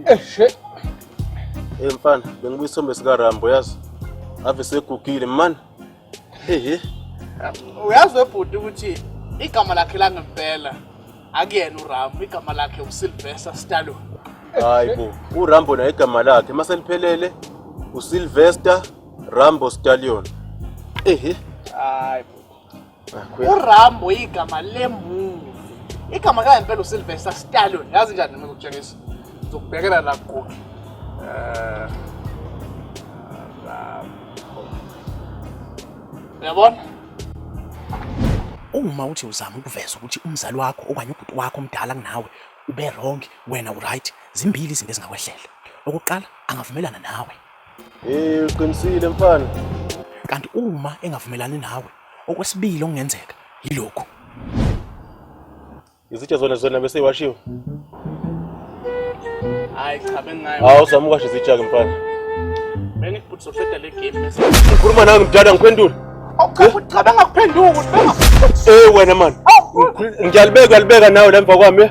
Eshe. Eh mfana, bengibuya isombe sika Rambo yazi. Ave segugile man. Ehhe. Uyazi webhuti ukuthi igama lakhe langempela akuyena uRambo, igama lakhe uSylvester Stallone. Hayi bo, uRambo naye igama lakhe maseliphelele uSylvester Rambo Stallion. Ehhe. Hayi bo. urambo igama lemuvi igama kangempela usilvester stallon yazi njani noma ngikutshengisa ngizokubhekela la kugogi um eh, uyabona uma uthi uzama ukuveza ukuthi umzali wakho okanye ubhuti wakho omdala kunawe ube wrong wena uright zimbili izinto ezingakwehlela okokuqala angavumelana nawe Eh uqinisile mfana. Kanti uma engavumelani nawe okwesibili okungenzeka yilokhu. Izitsha zona zona bese iwashiwe. Hayi cha bengayo. Hawu uzama ukwasha izitsha ke mfana. Bengibhuthi soqeda le game bese. Ngikhuluma nawe mdala ngiphendule. Awuchaza cha bengakuphendula. Eh wena man. Ngiyalibeka libeka nawe lemva kwami.